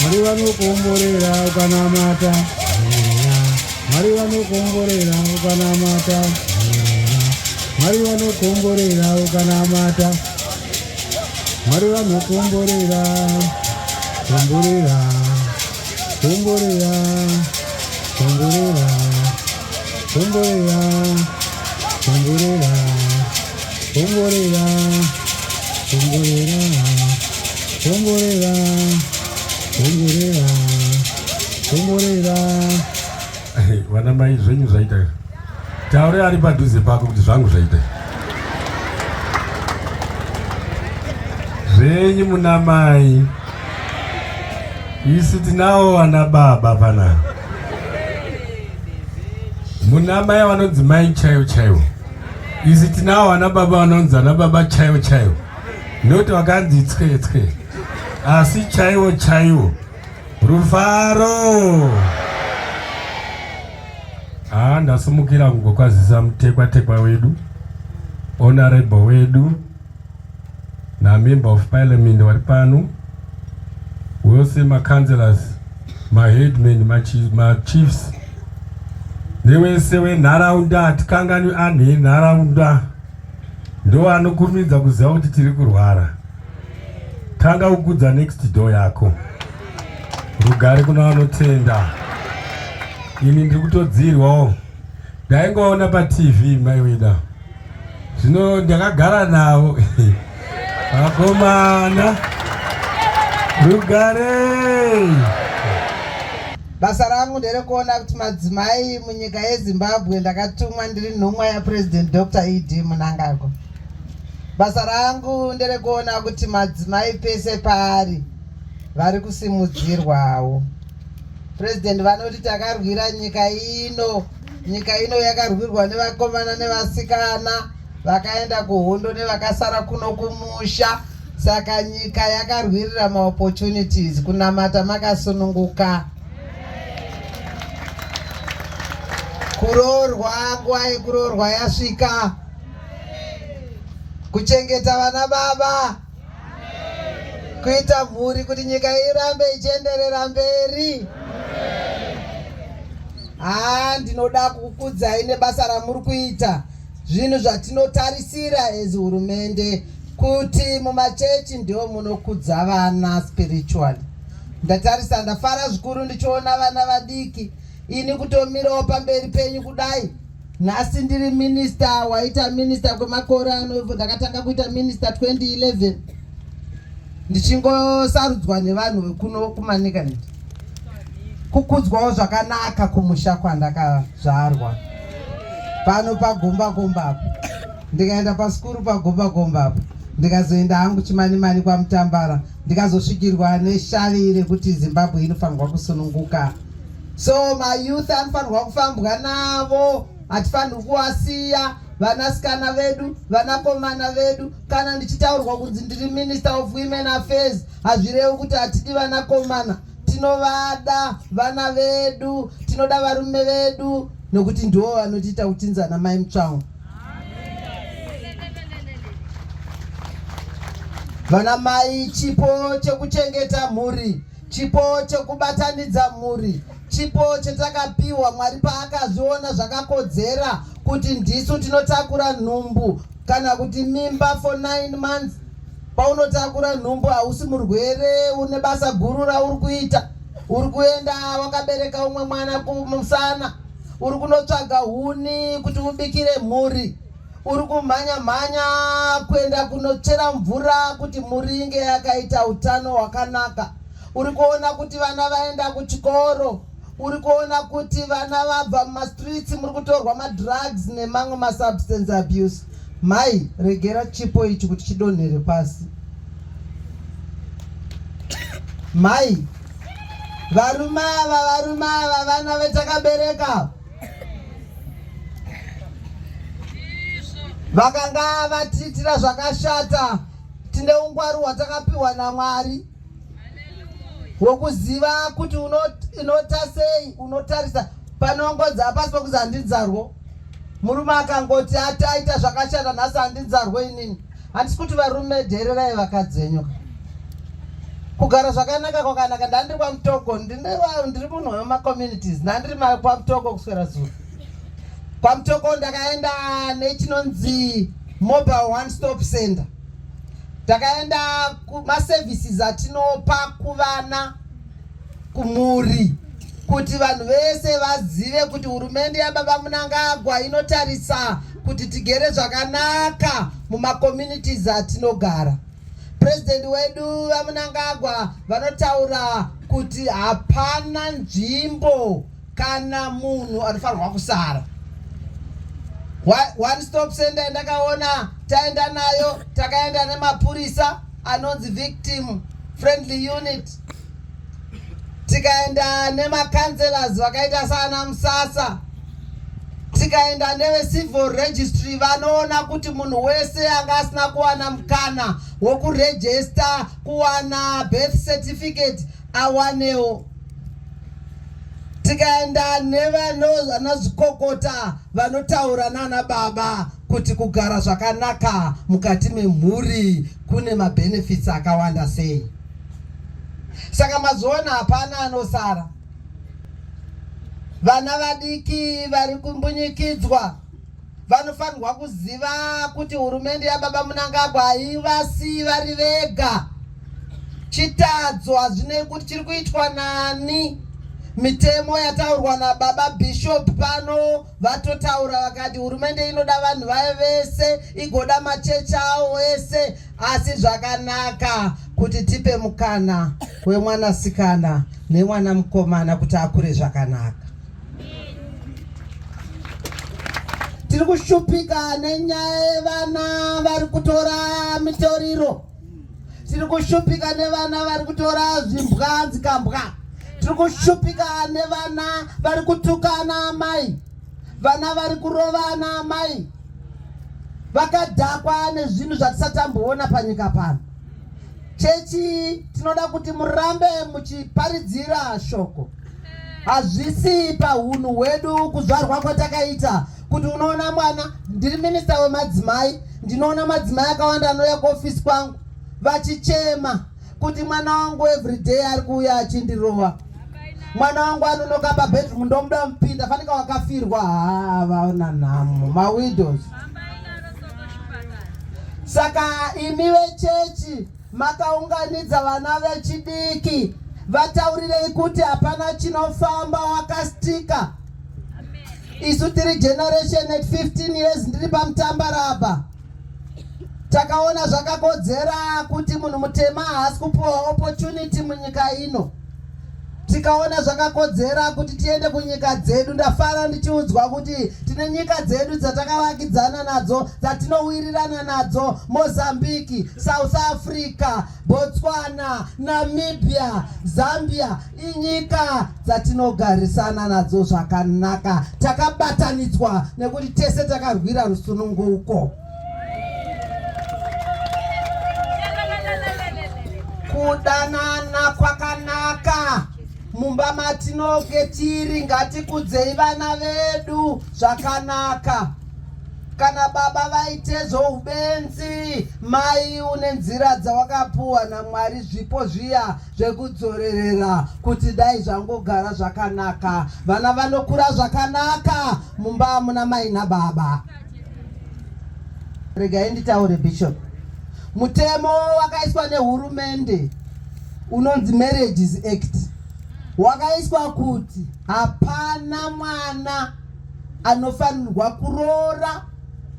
Mwari vanokomborera ukanamata Mwari vanokomborera ukanamata Mwari vanokomborera ukanamata Mwari vanokomborera komborera komborera komborera komborera komborera Bongorera, bongorera, bongorera, bongorera, bongorera. Vana mai zvenyu zvaita izvo. Taure ari padhuze pako kuti zvangu zvaita zvenyu muna mai. Isu tinawo vana baba panapa. Muna mai vanonzi mai chaivo chaivo. isu tinawo vana baba vanonzi vana baba chaivo chaivo noti vakanzi tswe tswe asi chaivo chaivo rufaro haa ndasumukira kungokwazisa mutekwatekwa wedu honorable wedu namember of parliament vari pano wose macounselors maheadman machiefs newese wenharaunda hatikanganwi anhu enharaunda ndo anokurumidza kuziva kuti tiri kurwara tanga kukudza next door yako rugare kuna vanotenda ini ndiri kutodzirwawo ndaingoona patv mai wina zvino ndakagara navo vakomana rugare basa rangu nderekuona kuti madzimai munyika yezimbabwe ndakatumwa ndiri nhumwa yapresident dr ed munangagwa basa rangu nderekuona kuti madzimai pese paari vari kusimudzirwawo President vanoti takarwira nyika ino. Nyika ino yakarwirwa nevakomana nevasikana vakaenda kuhondo nevakasara kuno kumusha. Saka nyika yakarwirira maopportunities kunamata makasununguka. Kuroorwa nguva yekuroorwa yasvika. Kuchengeta vana baba. kuita mhuri kuti nyika irambe ichienderera mberi haa ndinoda kukudzai nebasa ramuri kuita zvinhu zvatinotarisira as hurumende kuti mumachechi ndiwo munokudza vana spiritually ndatarisa ndafara zvikuru ndichiona vana vadiki ini kutomirawo pamberi penyu kudai Nhasi ndiri minister waita minister kwemakore ano ndakatanga kuita minister 2011 ndichingosarudzwa nevanhu vekuno kumanikanet kukudzwawo zvakanaka kumusha kwandakazvarwa pano pagombakomba apo ndikaenda pasikuru pagombakomba apo ndikazoenda hangu chimani mani kwamutambara ndikazosvikirwa neshavi rekuti zimbabwe inofanirwa kusununguka so mayouth anofanirwa kufambwa navo hatifanirwi kuwasiya vanasikana vedu vanakomana vedu kana ndichitaurwa kunzi ndiri minister of women affairs hazvirevi kuti hatidi vanakomana tinovada vana vedu tinoda varume vedu nokuti ndiwo vanotiita kutinzana mai mutsvawo vana mai chipo chekuchengeta mhuri Chipo chekubatanidza mhuri chipo chetakapiwa Mwari paakazviona zvakakodzera kuti ndisu tinotakura nhumbu kana kuti mimba for nine months. Paunotakura nhumbu hausi murwere, une basa guru rauri kuita. Uri kuenda wakabereka umwe mwana kumusana, uri kunotsvaga huni kuti ubikire mhuri. Uri kumhanya mhanya kuenda kunochera mvura kuti mhuri inge yakaita utano hwakanaka. Uri kuona kuti vana vaenda kuchikoro. Uri kuona kuti vana vabva mumastreets muri kutorwa madrugs nemamwe masubstance abuse. Mhai, regera chipo ichi kuti chidonhere pasi. Mhai, varume ava, varume ava, vana vetakabereka. vakanga vatiitira zvakashata tine ungwari hwatakapiwa namwari hwokuziva kuti unota sei unotarisa panongonzi hapasi pokuzi handinzarwo murume akangoti ati aita zvakashata nhasi handinzarwo inini Handisi kuti varume dheererai vakadzi venyu. Kugara zvakanaka kwakanaka ndandiri kwaMutoko ndiri munhu wemacommunities ndandiri kwaMutoko kuswera zuva. KwaMutoko ndakaenda nechinonzi mobile one stop center. Ndakaenda kumaservices atinopa kuvana kumhuri kuti vanhu vese vazive kuti hurumende yababa munangagwa inotarisa kuti tigere zvakanaka mumacommunities atinogara purezidenti wedu vamunangagwa vanotaura kuti hapana nzvimbo kana munhu anofanirwa kusara one stop center ndakaona taenda nayo takaenda nemapurisa anonzi victim friendly unit tikaenda nemacancelors vakaita saana musasa tikaenda nevecivil registry vanoona kuti munhu wese anga asina kuwana mukana wokurejesta kuwana birth certificate awanewo tikaenda nevanazvikokota vanotaura nana baba kuti kugara zvakanaka mukati memhuri kune mabenefits akawanda sei saka mazoona hapana anosara vana vadiki vari kumbunyikidzwa vanofanirwa kuziva kuti hurumende yababa munangagwa haivasi vari vega chitadzo hazvinei kuti chiri kuitwa nani mitemo yataurwa nababa bishop pano vatotaura vakati hurumende inoda vanhu vayo vese igoda machechi awo ese asi zvakanaka kuti tipe mukana wemwanasikana nemwana mukomana kuti akure zvakanaka tiri kushupika nenyaya yevana vari kutora mitoriro tiri kushupika nevana vari kutora zvimbwa dzikambwa tiri kushupika nevana vari kutukana amai vana vari kurovana amai vakadhakwa nezvinhu zvatisatamboona panyika pano chechi tinoda kuti murambe muchiparidzira shoko Hazvisi pahunhu hwedu kuzvarwa kwatakaita kuti unoona mwana. Ndiri minista wemadzimai, ndinoona madzimai akawanda anouya kuofisi kwangu vachichema kuti mwana wangu everyday ari kuuya achindirova mwana wangu anonoka pabedroom ndomuda mupinda fanika wakafirwa haa vaona nhamo mawidows saka imi vechechi Makaunganidza vana vechidiki vataurirei kuti hapana chinofamba wakastika isu tiri generation at 15 years ndiri pamutambaraba takaona zvakakodzera kuti munhu mutema haasi kupiwa opportunity munyika ino tikaona zvakakodzera kuti tiende kunyika dzedu ndafara ndichiudzwa kuti tine nyika dzedu dzatakavakidzana nadzo dzatinowirirana nadzo mozambique south africa botswana namibia zambia inyika dzatinogarisana nadzo zvakanaka takabatanidzwa nekuti tese takarwira rusununguko kudanana kwakanaka mumba matinoge tiri ngatikudzei vana vedu zvakanaka kana baba vaite zvoubenzi mai une nzira dzawakapuwa namwari zvipo zviya zvekudzorerera kuti dai zvangogara zvakanaka vana vanokura zvakanaka mumba amuna mai nababa regai nditaure bishop mutemo wakaiswa nehurumende unonzi marriages act wakaiswa kuti hapana mwana anofanirwa kuroora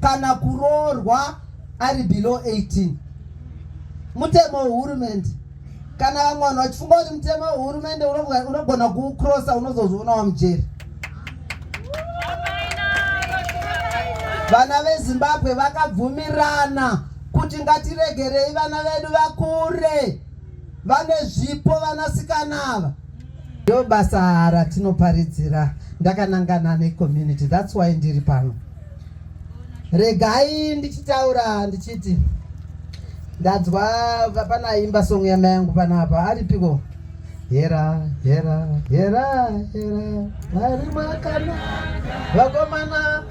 kana kuroorwa ari below 18 mutemo wehurumende Kana vamwe vanhu vachifunga kuti mutemo wehurumende unogona kuukrosa unozozviona wamujeri. Vana veZimbabwe vakabvumirana kuti ngatiregerei vana vedu vakure vane zvipo vanasikana ava. Ndo basa ratinoparidzira ndakanangana necommunity that's why ndiri pano. Regai ndichitaura ndichiti ndanzwa pana imba song yama yangu panapa aripiko hera hera hera hera vari mwakanaka vakomana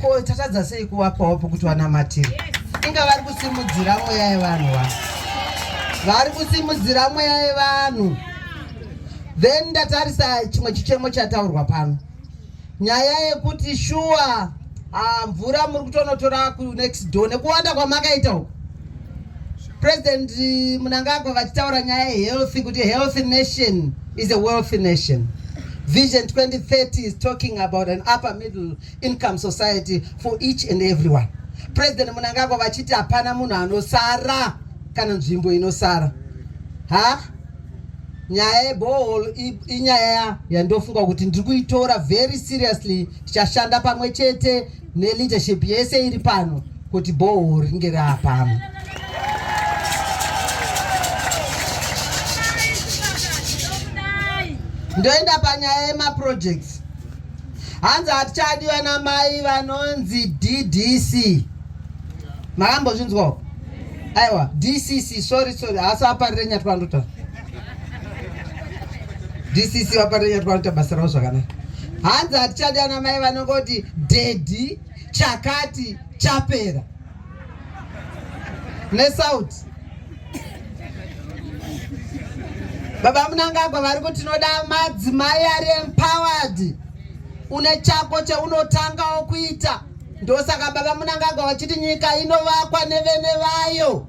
ko tatadza sei kuvapawo pokuti vanamatira inga vari kusimudzira mweya yevanhu va vari kusimudzira mweya yevanhu then ndatarisa chimwe chichemo chataurwa pano nyaya yekuti shuwa ah, mvura muri kutonotora kunext door nekuwanda kwamakaita uku President eh, Mnangagwa vachitaura nyaya yehealthy kuti healthy nation is a wealthy nation. Vision 2030 is talking about an upper middle income society for each and everyone. President Mnangagwa vachiti hapana munhu anosara kana nzvimbo inosara. Ha? Nyaya yebohol inyaya yandofunga kuti ndiri kuitora very seriously tichashanda pamwe chete neleadership yese iri pano kuti bhoho ringe raapano ndoenda panyaya yemaprojects hanzi hatichadi vana mai vanonzi ddc makambozvinzwawo aiwa dcc sorry sorry hasi aparire nyatwa ndotaura dcc vaparenya twanoita basa ravo zvakanaka hanzi hatichadi ana mai vanongoti dhedhi chakati chapera nesauti baba munangagwa vari kuti tinoda madzimai ari empowered une chako cheunotangawo kuita ndosaka baba munangagwa vachiti nyika inovakwa nevene vayo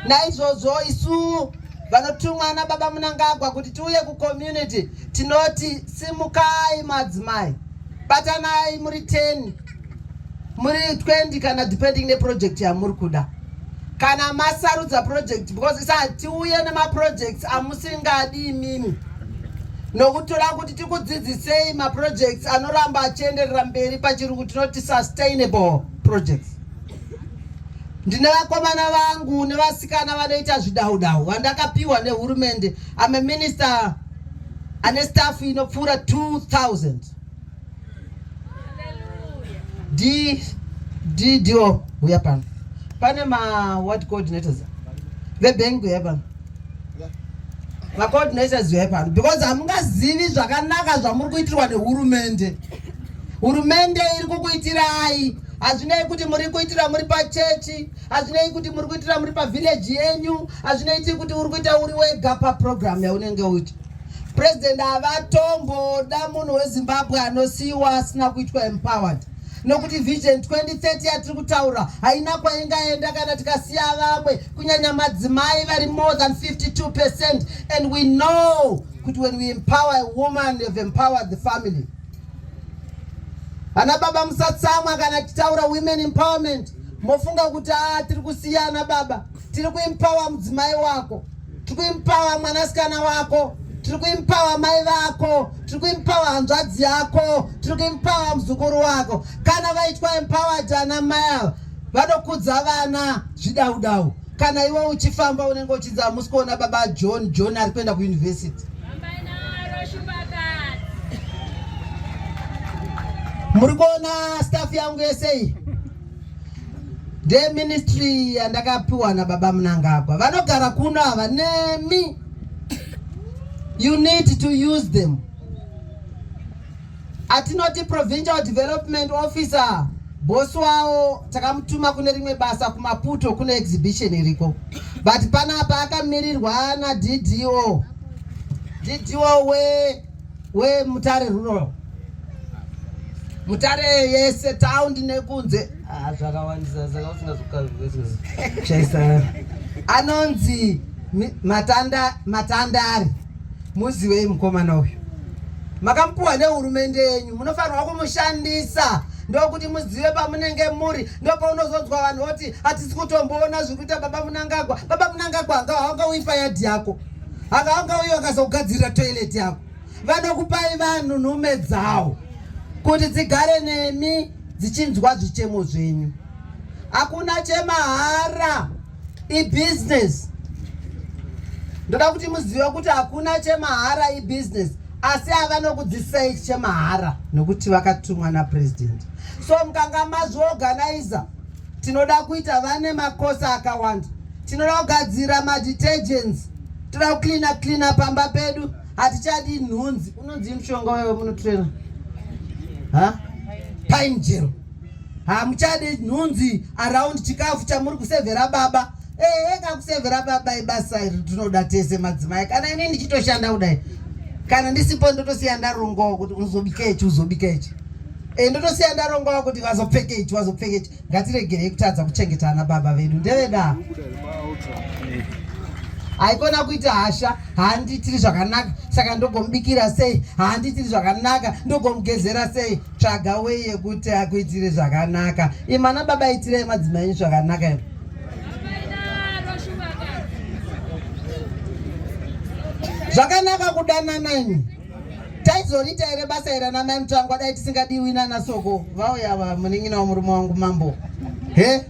Naizvozvo isu vanotumwa nababa Munangagwa kuti tiuye kucommunity tinoti simukai madzimai, batanai muri 10 muri 20 kana depending neproject yamuri kuda kana masarudza project because isa tiuye nemaprojects amusingadi imimi nokutora kuti tikudzidzisei maprojects anoramba achienderera mberi pachirungu tinoti sustainable projects Ndine vakomana vangu nevasikana vanoita zvidaudau vandakapiwa nehurumende. I'm a minister ane staff inopfuura 2000 d d dio huya pano pane ma what coordinators vebank huya pano macoordinators huya pano because hamungazivi zvakanaka zvamuri kuitirwa nehurumende hurumende iri kukuitirai Hazvinei kuti muri kuitira muri pachechi, hazvinei kuti muri kuitira muri pavhileji yenyu, hazvinoiti kuti uri kuita uri wega paprogramu yaunenge uita. President havatomboda munhu weZimbabwe anosiyiwa asina kuitwa empowered nokuti vision 2030 yatiri kutaura haina kwaingaenda kana tikasiya vamwe kunyanya madzimai vari more than 52 percent and we know kuti when we empower a woman you've empowered the family Ana baba musatsamwa kana titaura women empowerment mofunga kuti a ah, tiri kusiya ana baba tiri kuimpawa mudzimai wako tiri kuimpawa mwanasikana wako tiri kuimpawa mai vako tiri kuimpawa hanzvadzi yako tiri kuimpawa muzukuru wako kana vaitwa empowered ana mai ava vanokudza vana zvidaudau Kana iwe uchifamba unenge uchinzi hamusi kuona baba John, John ari kuenda kuuniversity. Muri kuona staff yangu yese iyi ndeministry yandakapiwa nababa Mnangagwa, vanogara kuno ava nemi, you need to use them. atinoti provincial development officer bosi wawo takamutuma kune rimwe basa kumaputo kune exhibition iriko but panapa akamirirwa naddo ddo wemutare we rural mutare yese taundi nekunze ah, zvakawandisa saka usingazokaishaisa anonzi matandari matanda Muzivei mukomana uyu, makamupuwa nehurumende yenyu, munofanirwa kumushandisa ndokuti muzive pamunenge muri. Ndopaunozonzwa vanhu voti hatisi kutomboona zviri kuita baba Munangagwa. Baba Munangagwa anga haunga uifa yadhi yako, anga haunga uyo akazogadzirira toilet yako. Vanokupai vanhu nhume dzawo kuti dzigare nemi dzichinzwa zvichemo zvenyu. Hakuna chemahara. ibusiness ndoda kuti muzive kuti hakuna chemahara ibusiness asi avanokudzidzisa ichi chemahara nokuti vakatumwa napresident so mukanga mazviorganiza tinoda kuita vane makosa akawanda tinoda kugadzira madetergents toda kucleana cleana pamba pedu hatichadi nhunzi unonzi mushonga wewe munotrena ha painjero hamuchade nhunzi around chikafu chamuri kusevhera baba ehe kakusevhera baba ibasa iri tinoda tese madzimai kana ini ndichitoshanda kudai kana ndisipo ndotosiya ndarongawo kuti unozobika ichi uzobika ichi e, ndotosiya ndarongawo kuti vazopfeke ichi vazopfeke ichi ngatiregerei kutadza kuchengeta ana baba vedu ndevedaa haikona kuita hasha haandiitiri zvakanaka saka ndogomubikira sei haandiitiri zvakanaka ndogomugezera sei tsvaga wei yekuti akuitire zvakanaka imana baba itirai madzimai enyu zvakanaka imo zvakanaka kudanana imi taizoriita here basa ira namai mutangwa dai tisingadiwi nana soko vauya va munin'ina wa murume wangu mambo he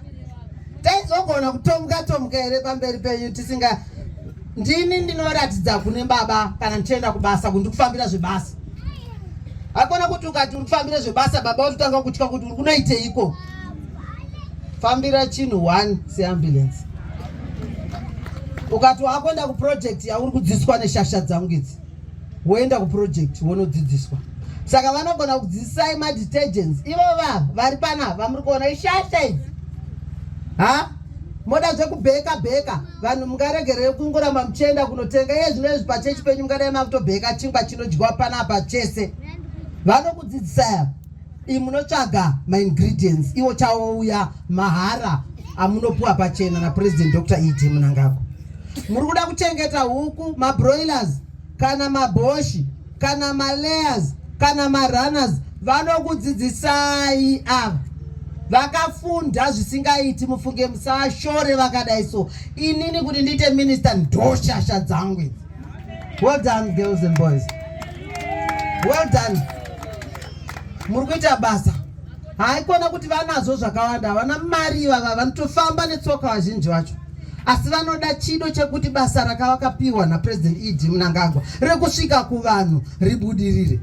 taizogona kutomuka tomuka here pamberi penyu tisinga ndini ndinoratidza kune baba kana ndichienda kubasa kundikufambira zvebasa Hakuna kuti ukati uri kufambira zvebasa baba wototanga kutya kuti uri kunoiteiko. Fambira chinhu one seambulance. Ukati wakuenda kuproject yauri kudzidziswa neshasha dzangu idzi, woenda kuproject wonodzidziswa. Saka vanogona kudzidzisai madetergents ivo vava vari pana vamuri kuona ishasha idzi. Ha? Moda zvekubheka bheka. vanhu mungaregerere kungoramba muchienda kunotenga iye zvino izvi pachechi penyu mungadai makutobheka chingwa chinodyiwa panapa chese vanokudzidzisa ya i munotsvaga maingredients iwo chawouya mahara amunopuwa pachena napresident dr ed munangagwa muri kuda kuchengeta huku mabroilers kana maboshi kana malayers kana marunners vanokudzidzisai ava vakafunda zvisingaiti mufunge musashore vakadai so inini kuti ndiite minister ndoshasha dzangu idzi well done girls and boys well done muri kuita basa haikona kuti vanazvo zvakawanda havana mari ivava vanotofamba netsoka vazhinji vacho asi vanoda chido chekuti basa rakavakapiwa napresident ed munangagwa rekusvika kuvanhu ribudirire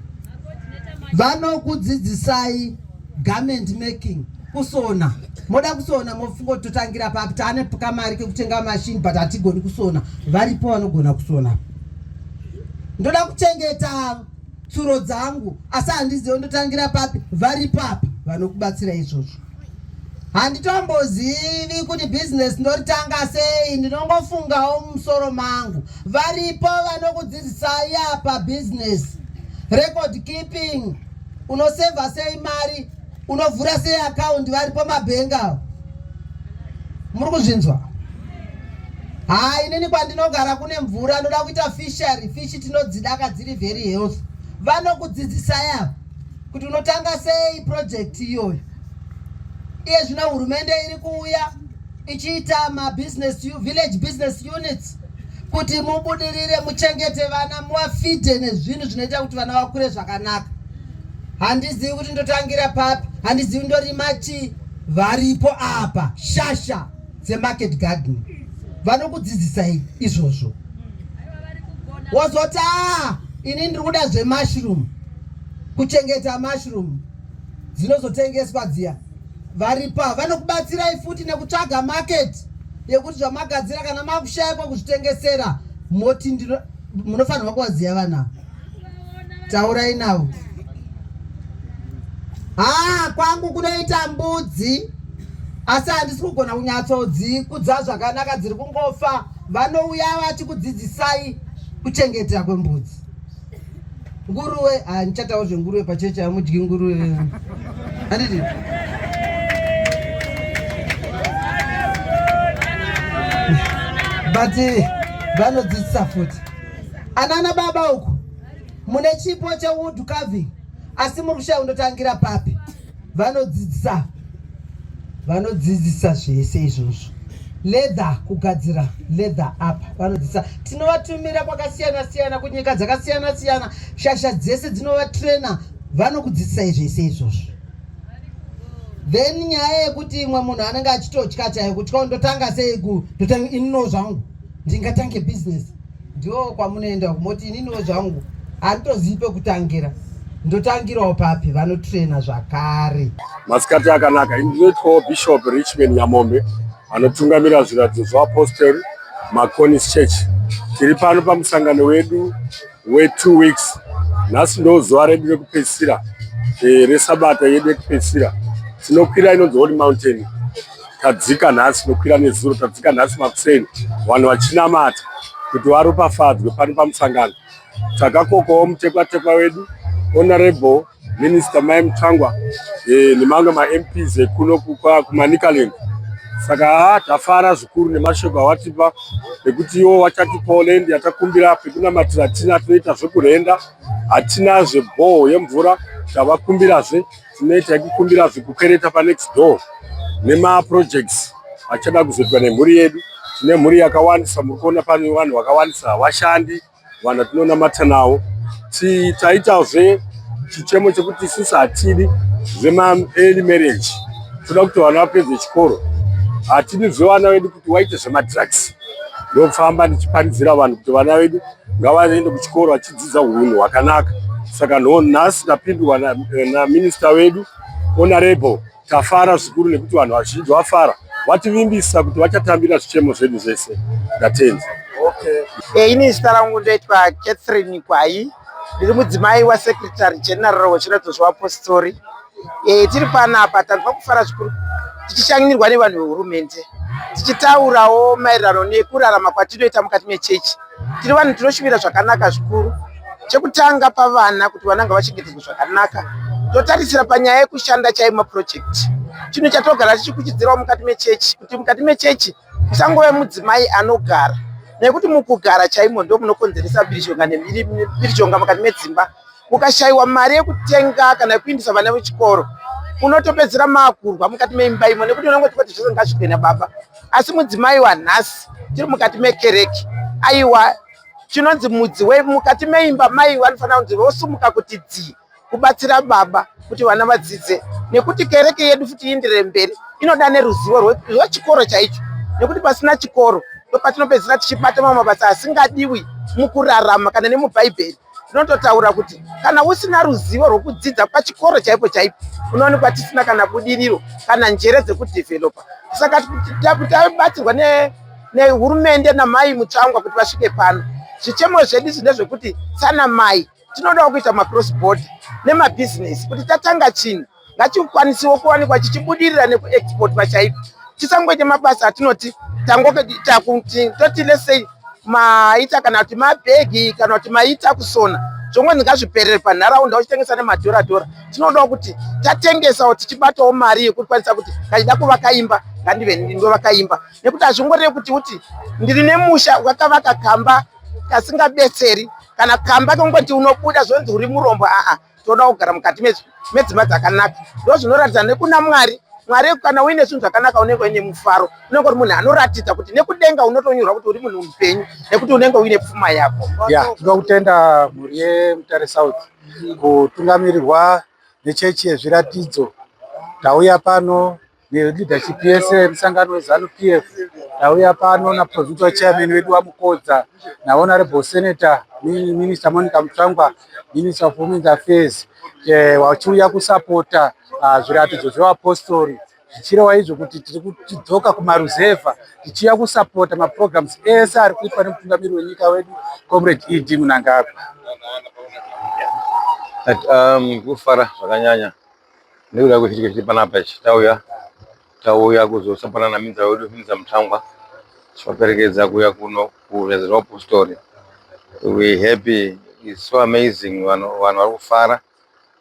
vanokudzidzisai garment making kusona moda kusona mofunga kuti totangira papi taane kamari kekutenga mashini but hatigoni kusona varipo vanogona kusona ndoda kuchengeta tsuro dzangu asi handizive ndotangira papi vari papi vanokubatsira izvozvo handitombozivi kuti bhizinesi ndoritanga sei ndinongofungawo mumusoro mangu varipo vanokudzidzisai apa bhizinesi record keeping unosevha sei mari Unovhura sei account vari pamabhengi avo? Muri kuzvinzwa? Haa inini kwandinogara kune mvura anoda kuita fishery fish tinodzidaka dziri very health vanokudzidzisai ava kuti unotanga sei project iyoyo iye zvino hurumende iri kuuya ichiita mabusiness village business units kuti mubudirire muchengete vana muwafidhe nezvinhu zvinoita kuti vana vakure zvakanaka handizivi kuti ndotangira papi handizivi ndorima chii varipo apa shasha dzemarket gardening vanokudzidzisai izvozvo wozoti a ah, ini ndiri kuda zvemushroom kuchengeta mushroom dzinozotengeswa dziya varipa vanokubatsirai futi nekutsvaga market yekuti zvamagadzira kana makushayikwa kuzvitengesera moti munofanirwa kuvaziva vanavo Taurai navo. Haa kwangu kunoita mbudzi asi handisi kugona kunyatsodzikudza zvakanaka dziri kungofa vanouya vachikudzidzisai kuchengetera kwembudzi nguruwe handichatawo zvenguruwe pacheche hamudyi nguruwe handiti but vanodzidzisa futi Anana baba uku mune chipo chewood carving asi muri kushaya undotangira papi? Vanodzidzisa vanodzidzisa zvese izvozvo leather kugadzira leather apa vanodzidzisa tinovatumira kwakasiyana siyana kunyika dzakasiyana siyana shasha dzese dzinovatraina vanokudzidzisai zvese izvozvo then nyaya yekuti imwe munhu anenge achitotya chayo kutya ndotanga sei ku ndotanga inino zvangu ndingatange business Ndoo kwamunoenda uko moti ininiwo zvangu handitozivi pekutangira ndotangirawo papi vanotrena zvakare. Masikati akanaka ini ndinoitwawo Bishop Richmond Nyamombe anotungamira zviratidzo zveapostori Maconis Church. Tiri pano pamusangano wedu wetu weeks. Nhasi ndo zuva redu rekupedzisira eh, resabata yedu yekupedzisira. Tinokwira inonzi Holy Mountain. tadzika nhasi tinokwira nezuro tadzika nhasi makuseni vanhu vachinamata kuti varopafadzwe pano pamusangano takakokawo mutekwatekwa wedu honorable minister mai mutsvangwa eh, nemamwe mamps ekuno kumanikaland saka haa tafara zvikuru nemashoko awatipa ekuti iwo wachati poland yatakumbira pekunamatira tina toita zvekurenda hatinazve bhoho yemvura tavakumbirazve Tinoita yekukumbira zvekukereta panext door nemaprojects achada kuzoitwa nemhuri yedu. Tine mhuri yakawandisa, muri kuona pane vanhu vakawandisa, vashandi vanhu vatinonamata navo. Taitazve chichemo chekuti isusu hatidi zvemaearly marriage, toda kuti vana vapedze chikoro. Hatidi zvevana vedu kuti waite zvemadrugs. ndofamba ndichiparidzira vanhu kuti vana vedu ngavaende kuchikoro vachidzidza hunhu hwakanaka saka no nhasi tapindwa naminista na vedu honorable tafara zvikuru nekuti vanhu vazhinji vafara vativimbisa kuti vachatambira zvichemo zvedu zvese ndatenzi okay. e, ini zita rangu ndoitwa catherine kwayi ndiri mudzimai wasekretary general wechiradzo zvevapostori e, tiri panapa tanzwa kufara zvikuru tichishanyirwa nevanhu vehurumende tichitaurawo maererano nekurarama kwatinoita mukati mechechi tiri vanhu tinoshuvira zvakanaka zvikuru chekutanga pavana kuti vananga vachengetedzwa zvakanaka totarisira panyaya yekushanda chaye mapurojekti chinhu chatogara tichikuchidzirawo mukati mechechi kuti mukati mechechi Musangove mudzimai anogara nekuti mukugara chaimo ndo munokonzeresa mhirizhonga nemhirizhonga mukati medzimba. Mukashaiwa mari yekutenga kana yekuindisa vana vechikoro unotopedzera makurwa mukati meimba imo nekuti unenge uchikoti zvese ngazvigwena baba asi mudzimai wanhasi tiri mukati mekereke aiwa chinonzi mudzi wemukati meimba mai vanofanira kunzi vosumuka kuti dzii kubatsira baba kuti vana vadzidze nekuti kereke yedu futi iindire mberi inoda neruzivo rwechikoro chaicho nekuti pasina chikoro ndopatinopedzisira tichibata mamwe mabasa asingadiwi mukurarama kana nemubhaibheri tinototaura kuti kana usina ruzivo rwekudzidza pachikoro chaipo chaipo unoonekwa tisina kana budiriro kana njere dzekudhevhelopa saka tabatsirwa nehurumende namai mutsvangwa kuti vasvike pano zvichemo zvedu zvine zvekuti sana mai tinodawo kuita macross border nemabhizinesi kuti tatanga chinhu ngachikwanisewo kuwanikwa chichibudirira nekuexportwa chaiko tisangoite mabasa atinoti toti lesei maita kana kuti mabhegi kana kuti maita kusona zvongonzi ngazviperere panharaunda uchitengesa nemadhoradhora tinodawo kuti tatengesawo tichibatawo mari yekuti kwanisa kuti kachida kuvaka imba ngandive ndovaka imba nekuti hazvingoreve kuti kuti ndiri nemusha wakavaka kamba kasingabetseri kana kamba kongoti unobuda zvonzi uri murombo aa toda kugara mukati medzimba dzakanaka ndo zvinoratidza nekuna mwari mwari kana uine zvinhu zvakanaka unenge uine mufaro unenge uri munhu anoratidza kuti nekudenga unotonyorwa kuti uri munhu mupenyu nekuti unenge uine pfuma yako ya tinoda kutenda mhuri yemutare south kutungamirirwa nechechi yezviratidzo tauya pano Leadership yese musangano wezanu PF tauya pano na provincial chairman wedu wamukodza na honorable senator minister Monica Mutsvangwa minister of women's affairs eh, wachiuya kusapota ah, zviratidzo zvevapostori zvichireva izvo kuti tiri kutidzoka kumaruzevha tichiuya kusapota maprograms ese ari kuitwa nemutungamiri wenyika wedu comrade ed munangagwa um, kufara zvakanyanya nekuda kwechitiko chiri panapa ichi tauya tauya kuzosapanana minza wedu minza mutangwa tivaperekedza kuya kuno kureza rwapostori we happy is so amazing vanhu vanhu vari kufara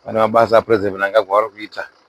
vane mabasa apresident mnangagwa vari kuita